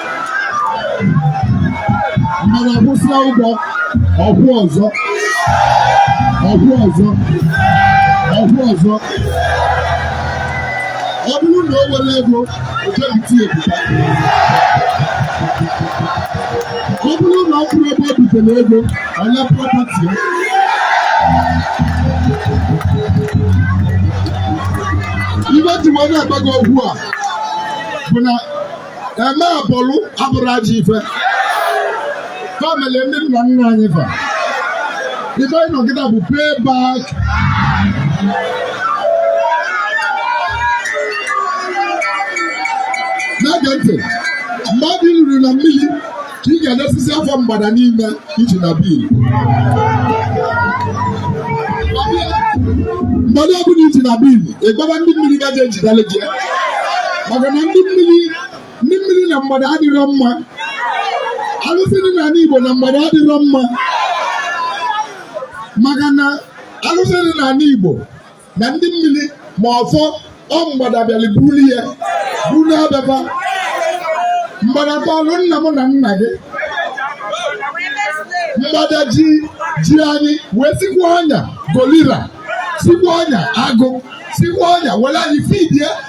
mmadụ akwụsịa ụgwọ ọ kwụọ ọzọ ọ kwụọ ọzọ ọ kwụọ ọzọ ọ bụrụ na o nwere ego o jee bite ebuka ọ bụrụ na ọ kwụrọ ebe o bitere ego a nara prọpati ya ife m ji wee na-agwa gị okwu a bụ na eme abụrụ abụrụ ajọ ife famili ndị nna nna anyị fa ife anyị nọgide bụ pay back na-ege ntị mmadụ ruru na mmiri ka ị ga-edesizi afọ mgbada niile iji na bil mgbada ọbụla iji na bil ị gaba ndị mmiri gaje ejidele gị maka na ndị mmiri na mgbada adịrọ mma alụsị dị n'ala Igbo na mgbada adịrọ mma maka na alụsị dị n'ala Igbo na ndị mmiri ma ọfọ ọ mgbada bịara buru ya buru naa be fa mgbada tọlụ nna m na nna gị mgbada ji ji anyị wee sikwa ọnya gorilla sikwa ọnya agụ sikwa ọnya were anyị fidie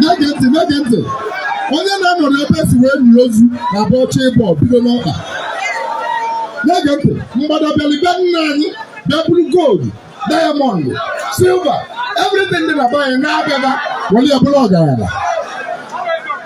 na-ege ntị na-ege ntị onye na-anọrọ ebe e si wee nie ozu na ọ bụ ọ chọọ ịbọ bido n'ọkpa na-ege ntị mgbada bịali be nna anyị bịa buru goldu dayamọndụ silva evritin dị na be anyị naa be fa were ya bụrụ ọgaranya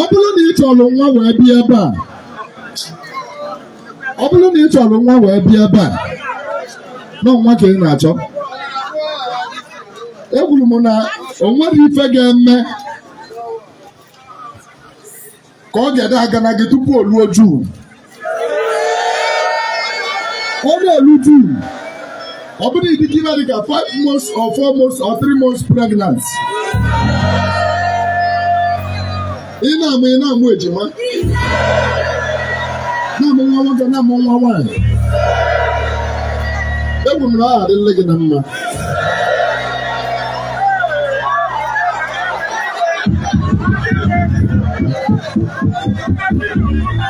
ọ bụrụ na ị chọrọ nwa wee bịa ebe a ọ bụrụ na ị chọrọ nwa wee bịa ebe a na ọ nwa ka ị na-achọ ekwuru m na o nwere ife ga-eme ka ọ ga-ede aga na gị tupu o luo june ọ na-elu june ọ bụrụ ị dịgo ime dịka 5 months or 4 months or 3 months pregnant ị na-amụ ị na-amụ ejima na-amụ nwa nwoke na-amụ nwa nwaanyị ekwuru m na ọ adịla gị na mma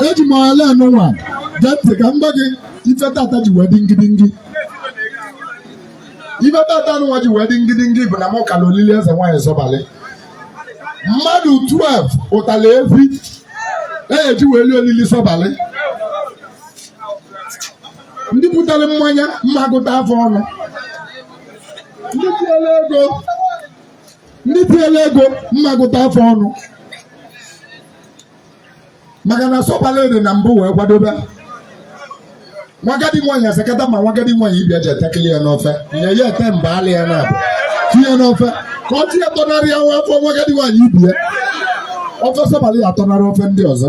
eji m ala anụnwa gee ntị ka m gwa gị ife tata ji wee dị ngidingi ife tata anụnwa ji wee dị ngidingi bụ na mụ kara olili eze nwaanyị sọbalị mmadụ 12 zụtala efi eji wee lie olili sọbalị ndị butere mmanya m ma gụta fa ọnụ ndị tinyere ego ndị tinyere ego m ma gụta fa ọnụ maka na sọbalị dị na mbụ wee kwadobe nwagadi nwaanyị asakata ma nwagadi nwaanyị ibe ya ji atakili ya n'ofe nye ya ete mba alị ya na-abụ tinye n'ofe ka ọ tinye tọnarị ya nwa afọ nwa agadi nwaanyị ibe ya ofe sọbalị ya-atọnarị ofe ndị ọzọ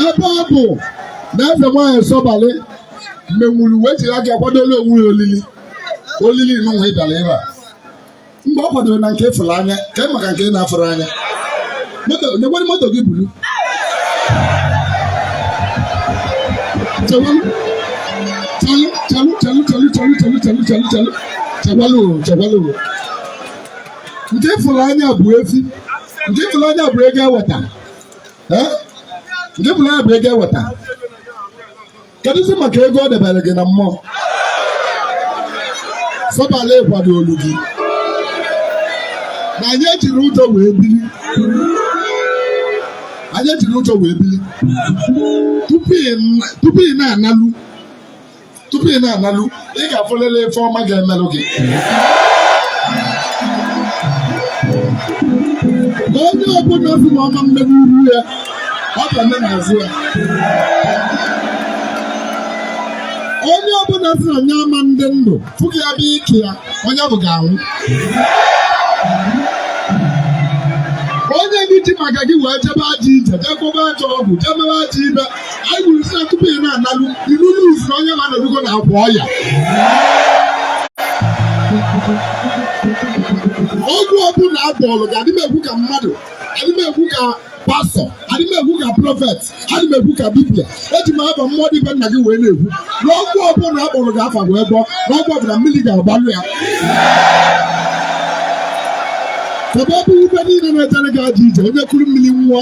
ebe ọ bụ na eze nwaanyị sọbalị menwuru wee jiri aka kwadolu onwe ya olili olili nụnwa ị bịara ebe a mgbe ọ kwadoro na nke ị fụrụ anya ka ị maka nke ị na-afụrọ anya nekwere moto gị buru nke ị fụrụ anya bụ efi nke ị fụrụ anya bụ ego eweta nke ị fụrụ anya bụ ego eweta kedụzi maka ego ọ debere gị na mmụọ sọbalị kwadolu gị na anyị ejiri ụjọ wee biri anyị ejiri ụjọ wee biri tupu ị na-analu tupu ị na-analu ị ga-afụlịlị ife ọma ga-emelụ gị onye ọbụla sị na ọ ma mme n'iru ya ọ ga-eme n'azụ ya onye ọbụla sị na nya ama ndị ndụ fụ gị ya bụ ike ya onye ọ bụ ga-anwụ onye gị ji maka gị wee jebe ajọ ije jee gwọba ajọ ọgwụ jee mere ajọ ife anyị kwuru sị na tupu ị na-analụ ilu luz na onye na-anọdugo na akwa ọya ọgwụ ọbụla a gwọọlụ gị adị m ekwu ka mmadụ adị m ekwu ka pastọ adị m ekwu ka prọfet adị m ekwu ka dibia eji m afa mmụọ dị be nna gị wee na-ekwu na ọgwụ ọbụla akpọrọ gị afa wee gwọọ na ọgwụ ọbụla mmiri ga-agbalụ ya ebe ọ bụ ife niile na-ejere gị ajọ ije onye kuru mmiri ṅụọ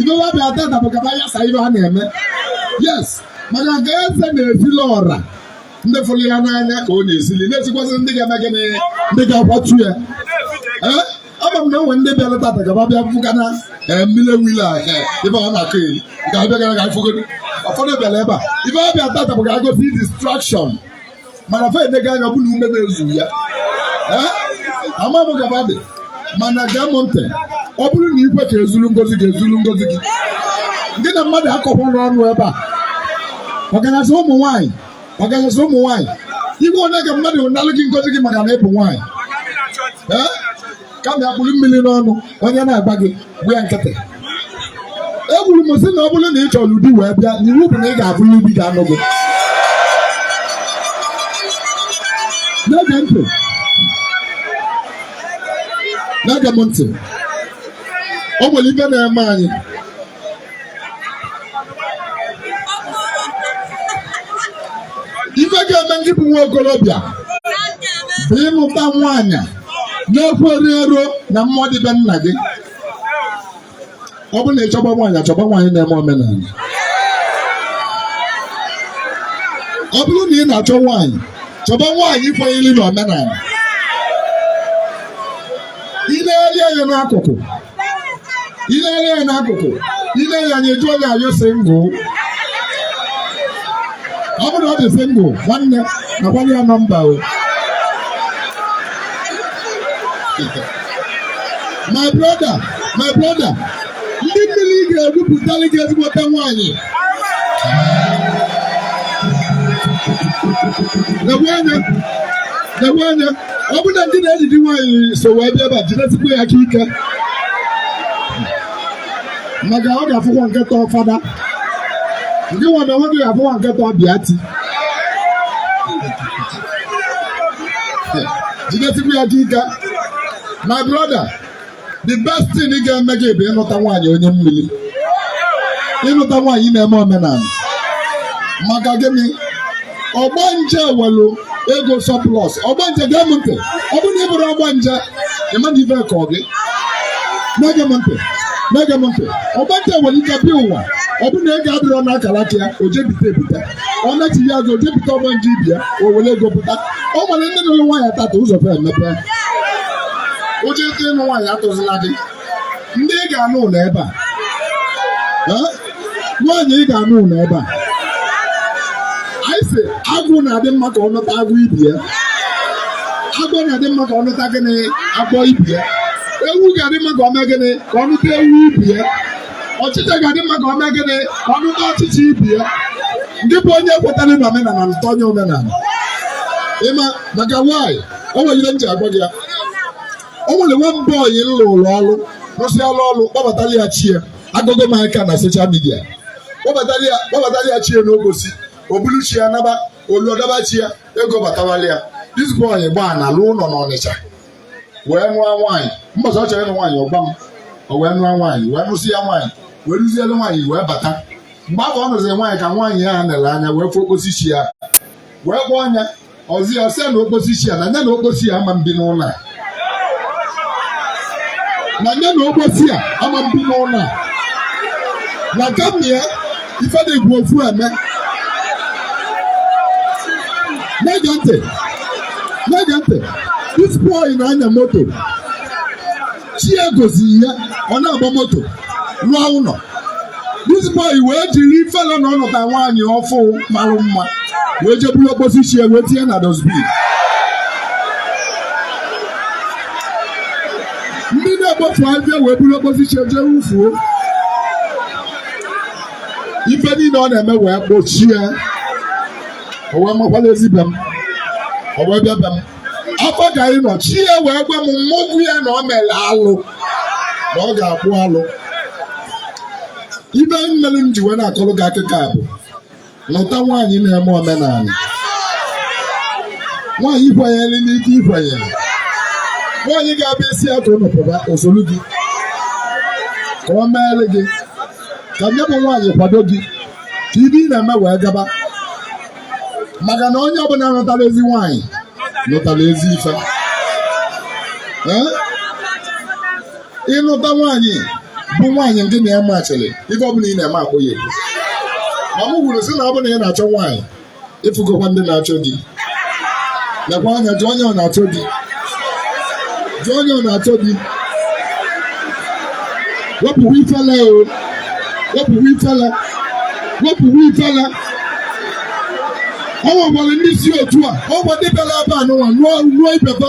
ife wa bịa tata bụ ka fa yasaa ife a na-eme yes maka nke eze na-esili ọra ndị fụrụ ya n'anya ka ọ na-esili na-esikwazị ndị ga-eme gịnị ndị ga-akwatu ya ee ama m na e nwe ndị bịara tata ka fa bịa fụ ka na mmiri wile a ife ọ na-akọyeri ga-abịa gara ga fụgo ụfọdụ bịara ebe a ife ọ bịa tata bụ ka ọ cause distraction mana fa enega anya ọ bụ na ume na-ezu ya ama m ka fa dị mana gee m ntị ọ bụrụ na i kwe ka e zulu ngozi gị e zulu ngozi gị gị na mmadụ akọkwana ọnụ ebe a ọkanazị ụmụ nwaanyị ọkanazị ụmụ nwaanyị ekwene ka mmadụ nalụ gị ngozi gị maka na ị bụ nwaanyị kama kpụrụ mmiri n'ọnụ onye na-agba gị gba ya nkịtị ekwuru m sị na ọ bụrụ na ị chọrọ di wee bịa na iwu bụ na ị ga-afụlị di ga-anụ gị na-ege ntị na-ege m ntị o nwere ife na-eme anyị ife ga-eme ngị bụ nwa okorobịa bụ ịnụta nwaanyị na-ekwerero na mmụọ dị be nna gị ọ bụrụ na ị chọba nwaanyị chọba nwaanyị na-eme omenala ọ bụrụ na ị na-achọ nwaanyị chọba nwaanyị kwenyere na omenala i negharịa anya n'akụkụ i lele ya n'akụkụ i lee ya anya ị jụọ ya are you single ọ bụrụ ọ dị single nwanne nakwanụ ya number o my brother my brother ndị mmiri ga-ebupụtali gị ezigbote nwaanyị nekwe anya nekwe anya ọ bụrụ na ngị na enyi gị nwaanyị so wee bịa ebe a jidesikwa ya aka ike maka ọ ga-afụkwa nke tọọ fada ngịnwa na onwe gị ga-afụkwa nke tọọ bịa ti jidesikwa ya aka ike my brother the best thing ga-eme gị bụ ịnụta nwaanyị onye mmiri ịnụta nwaanyị na-eme omenala maka gịnị ọgbanje nwelu ego surplus ọgbanje gee m ntị ọ bụrụ na ị bụrụ ọgbanje ị ma na ife kọ gị na-ege m ntị na-ege m ntị ọgbanje nwere ike bịa ụwa ọ bụrụ na ego adịrọ n'akara aka ya o je bite ebite ọ nachia azụ je bite ọgbanje ibe ya o were ego pụta o nwere ndị nụrụ nwaanyị tata ụzọ fa emepe ụjọ ịtụ ịnụ nwaanyị atụzila gị ndị ị ga-anụ nọ ebe a Eh? nwaanyị ị ga-anụ nọ ebe a anyị sị agwụ na-adị mma ka ọ nụta agwụ ibe ya agwọ na-adị mma ka ọ nụta gịnị agwọ ibe ya ewu ga-adị mma ka ọ mee gịnị ka ọ nụta ewu ibe ya ọchịcha ga-adị mma ka ọ mee gịnị ka ọ nụta ọchịcha ibe ya ndị bụ onye kwetara na omenala nụta onye omenala ị ma maka why o nwere ihe m ji agwa gị ya o nwere nwa boy m lụrụ ọrụ rụsịala ọrụ kpọbatara ya chi ya agụgụ m aka na social media kpọbatara ya kpọbatara ya chi ya n'okposi o bulu chi ya naba o luo dọba chi ya ego batawala ya this boy gbaa ana lụọ ụlọ n'ọnịcha wee nụọ nwaanyị mbọsị ọ chọrọ ịnụ nwaanyị ọ gwa m o wee nụọ nwaanyị wee nụsịa nwaanyị wee rụzielu nwaanyị wee bata mgbe afụ ọ nụziri nwaanyị ka nwaanyị ya nere anya wee fụ okposi chi ya wee kpọọ anya ọzi ya sị na okposi chi ya na nya na okposi ya ama ebi n'ụlọ a na nya na okposi a ama ebi n'ụlọ a na kama ya ife dị egwu ofu eme na-ege ntị na-ege ntị this boy na-anya moto chi ya goziri ya ọ na-agba moto rụọ ụlọ this boy wee jiri ifele na ọ nụta nwaanyị ọfụụ marụ mma wee je buru okposi chi ya wee tinye na dustbin ndị na-ekpofu abịa wee buru okposi chi jee wufuo ife niile ọ na-eme wee gbochie o wee makwala ezi be m o wee bịa be m afa ka anyị nọ chi ya wee gwa m mụ gwa ya na ọ mere alụ na ọ ga-akpụ alụ ife mere m ji wee na-akọrọ gị akụkọ a bụ lụta nwaanyị na-eme omenala nwaanyị kwenyere n'ife i kwenyere nwaanyị ga-abụ ị sị ya ka unu pụta o solu gị ka o meere gị ka nya bụ nwaanyị kwado gị ka ife ị na-eme wee gaba maka na onye ọbụla nụtara ezi nwaanyị nụtara ezi ife ịnụta nwaanyị bụ nwaanyị nke na ya machiri ife ọbụla ị na-eme akpọ ya ekwu ma m kwuru sị na ọ bụ na ị na-achọ nwaanyị ịfụgokwa ndị na-achọ di lekwa anya jụọ onye ọ na-achọ di jụọ onye ọ na-achọ di wepụwa ifele o wepụwa ifele wepụwa ifele ọ nwekwara ndị si otu a ọ gwa ndị bịara ebe a n'ụwa nụọ ibeba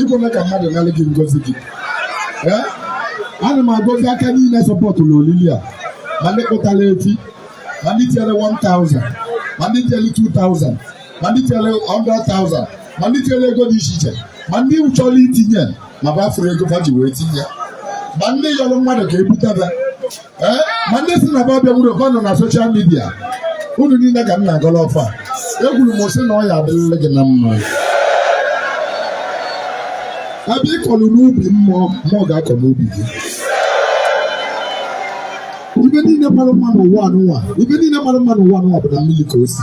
ikwena ka mmadụ nalị gị ngozi gị ee ana m agọzi aka niile sọpọtụrụ olili a ma ndị kpụtara efi ma ndị tinyere 1000 ma ndị tinyere 2000 ma ndị tinyere 100,000 ma ndị tinyere ego dị iche iche ma ndị chọrọ itinye ma ba afụrọ ego fa ji wee tinye ma ndị yọrọ mmadụ ka ebutebe eh, ma ndị sị na ba abịawurọ ba nọ na social media unu niile ka m na-agọlụ ọfọ ekwuru m sị na ọ ya adịrịrị gị na mma ebe ị kọlụ n'ubi mmụọ mmụọ ga-akọ n'ubi gị ife niile mara mma n'ụwa anụnwa ife niile mara mma n'ụwa anụnwa bụ na mmiri ka o si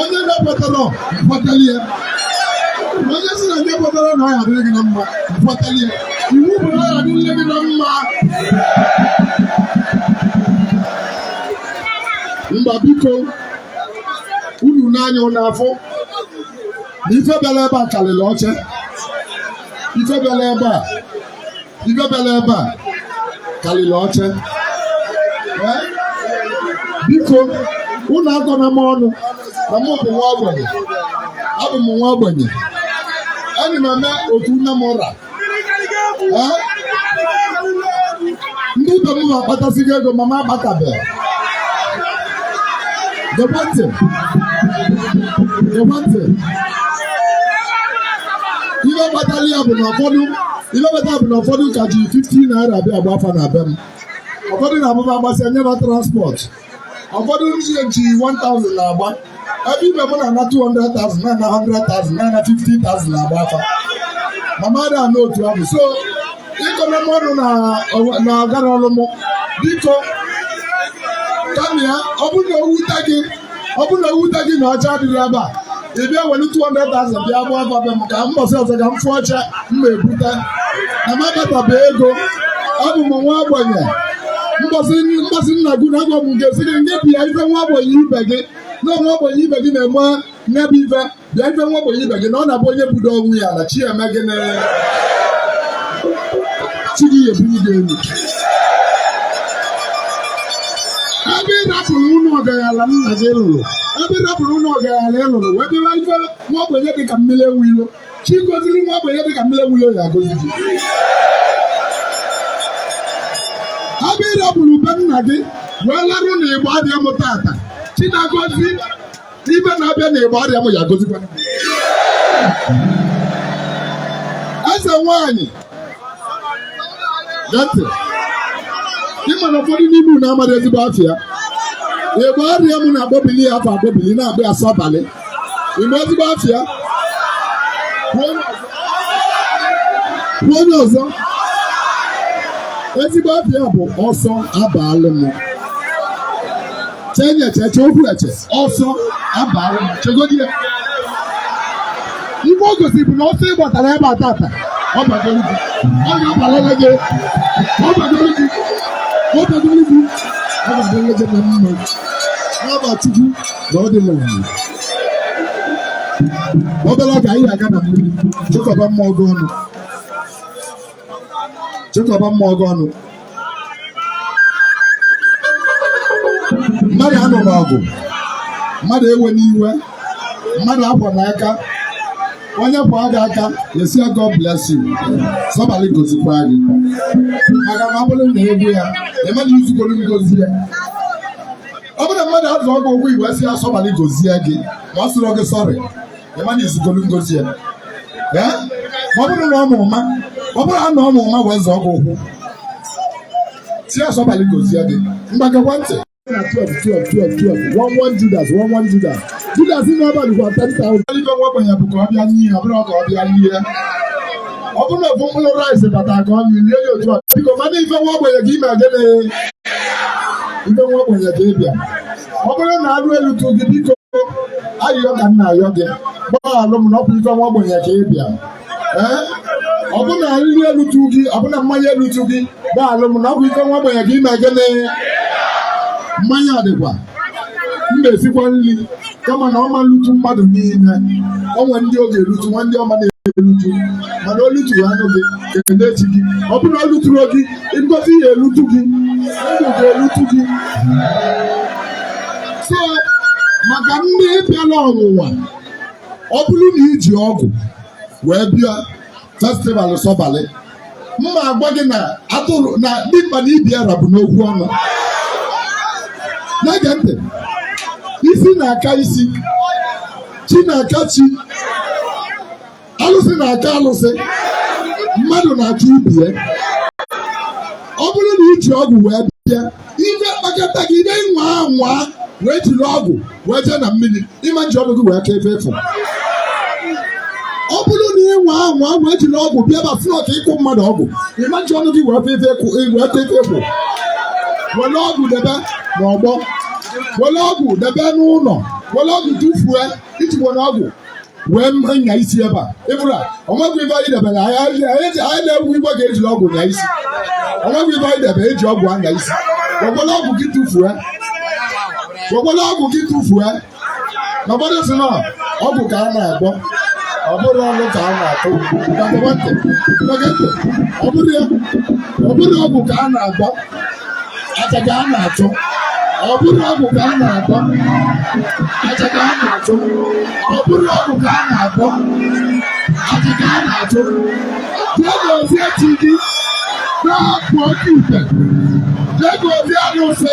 onye na-ekwetarọ kwetara ya onye sị na nya ekwetarọ na ọ ya adịrị gị na mma kwetara ya iwu bụ na ọ ya adịrị gị na mma mba biko unu n'anya unu afụ na ife bịara ebe a karịrị oche ife bịara ebe a ife bịara ebe a karịrị oche biko unu akọna m ọnụ na mụ bụ nwa ogbenye abụ m nwa ogbenye ana m eme otu na mụ ra ndị ibe m na-akpatasigo ego ma m akpatabeghị gekwe ntị gekwe ntị ihe kpatara ya bụ na ụfọdụ ihe kpatara ya bụ na ụfọdụ ka ji 15 naira abịa agba afa na be m ụfọdụ na-abụ ba gbasịa e nye ba transport ụfọdụ na-eji 1000 na-agba ebe ibe m na-ana 200,000 na-ana 100,000 na-ana 50,000 na-agba afa ma mụ ada ana otu ahụ so ịkọna m ọnụ na ọgara ọlụ mụ biko kama ya ọ bụrụ na o wute gị ọ bụrụ na o wute gị na oche adịghị ebe a ị bịa were 200,000 bịa gbaa afa be m ka mbọsị ọzọ ka m fụ oche m ma ebute na m akpatabe ego abụ m nwa ogbenye mbọsị nna gị na agwụ ga-asị gị ngwa bịa ife nwa ogbenye ibe gị na nwa ogbenye ibe gị na-eme ya bụ ife bịa ife nwa ogbenye ibe gị na ọ na-abụ onye budo onwe ya na chi eme gị na chi gị ebunye gị elu ebe ị rapụrụ ụlọ ọgaranya nna gị lụrụ ebe ị rapụrụ ụlọ ọgaranya ị lụrụ wee bịara ife nwa ogbenye dị ka mmiri enwe ilo chi goziri nwa ogbenye dị ka mmiri enwe ilo ya agozi gị ebe ị rapụrụ be nna gị wee larụ na Igbariam tata chi na-agọzi ibe na-abịa na Igbariam ya gozikwa eze nwanyị ntị ịma na ụfọdụ n'ime unu amaghị ezigbo afa ya Igbariam na-akpọbili ya afa akpọbili na-akpọ ya sọbalị ịma ezigbo afa ya gwa onye ọzọ ezigbo afa ya bụ ọsọ abaalụ m chenye cheche okwu eche ọsọ abara m chegodi ya ife o gosiri bụ na ọsọ ị gbatara ebe a tata ọ bagoro gị ọ ga-abalili gị ọ bagoro gị ọ bagoro gị ọ bagoro gị na mma n'afa chukwu na ọ dị n'ụwa obere oge anyị ga-aga na mmiri chịkọba mmụọ gị ọnụ chịkọba mmụọ gị ọnụ mmadụ anụna ọgụ mmadụ ewena iwe mmadụ akwana aka onye kwaa gị aka ị sị ya God bless you sọbalị gozikwa gị maka na ọ bụrụ na egwu ya ịmana izugoro ngozi ya ọ bụrụ na mmadụ azọọ gị ụkwụ ị wee sị ya sọbalị gozie gị ma ọ sịrọ gị sorry ịmana izugolu ngozi ya ee ma ọ bụrụ na ọ ma ụma ọ bụrụ ha na ọ ma ụma wee zọọ gị ụkwụ sị ya sọbalị gozie gị ngwa gekwa ntị na 12 12 12 12 one one Judas one one Judas Judas ime abalị gwa 10,000 ife nwa ogbenye bụ ka ọ bịa n'ihe ọ bụrụ ka ọ bịa n'ihe ọ bụrụ na ofu mkpụrụ rice bata ka ọ na lie ya otu a biko mana ife nwa ogbenye ka ime gịnị ife nwa ogbenye ka ị bịa ọ bụrụ na anụ elutu gị biko ayịyọ ka m na-ayọ gị gbaghalụ m na ọkwa ife nwa ogbenye ka ị bịa ee ọ bụ na nri elutu gị ọ bụ na mmanya elutu gị gbaghalụ m na ọkwa ife nwa ogbenye ka ime gịnị mmanya adịkwa m na-esikwa nri kama na ọ ma-elutu mmadụ niile o nwe ndị ọ ga-elutu nwee ndị ọ ma na-elutu mana olutu ya anụ gị emechi gị ọ bụrụ na o luturu gị ngozi ya elutu gị ndụ ga-elutu gị so maka ndị bịara ọnwụnwa ọ bụrụ na i ji ọgwụ wee bịa festival sọbalị m ma-agwa gị na atụrụ na dimkpa na ibi ara bụ n'okwu ọnụ na-ege ntị isi na-aka isi chi na-aka chi alụsị na-aka alụsị mmadụ na-aka ibe ya ọ bụrụ na i ji ọgwụ wee bịa ife kpakọta gị ibe nwa anwa wee jiri ọgwụ wee jee na mmiri ị ma-eji ọgwụ gị wee ka ife ị fụ ọ bụrụ na ị nwa anwa wee jiri ọgwụ bịa festival ka ị kụ mmadụ ọgwụ ị ma-eji ọnụ gị wee ka ife ị fụ wee ka ife ị fụ were ọgwụ debe n'ọgbọ were ọgwụ debe n'ụlọ were ọgwụ tụfuo i ji were ọgwụ wee na-anya isi ebe a ịbụrụ a o nwegwo ife anyị debere anyị anyị- anyị anyị na-egwu igwe ka ejiri ọgwụ nya isi o nwegwo ife anyị debere eji ọgwụ anya isi wekwala ọgwụ gị tụfuo wekwala ọgwụ gị tụfuo na ụfọdụ sị na ọgwụ ka a na-agwọ ọ bụrụ ọnụ ka a na-atụ na gọọmentị ọ bụrụ ya ọ bụrụ ọgwụ ka a na-agwọ aja ka a na-achụ ọ bụrụ ọgwụ ka a na-agwọ aja ka a na-achụ ọ bụrụ ọgwụ ka a na-agwọ aja ka a na-achụ jee gọzie chi gị rapụ oke ite jee gọzie alụsị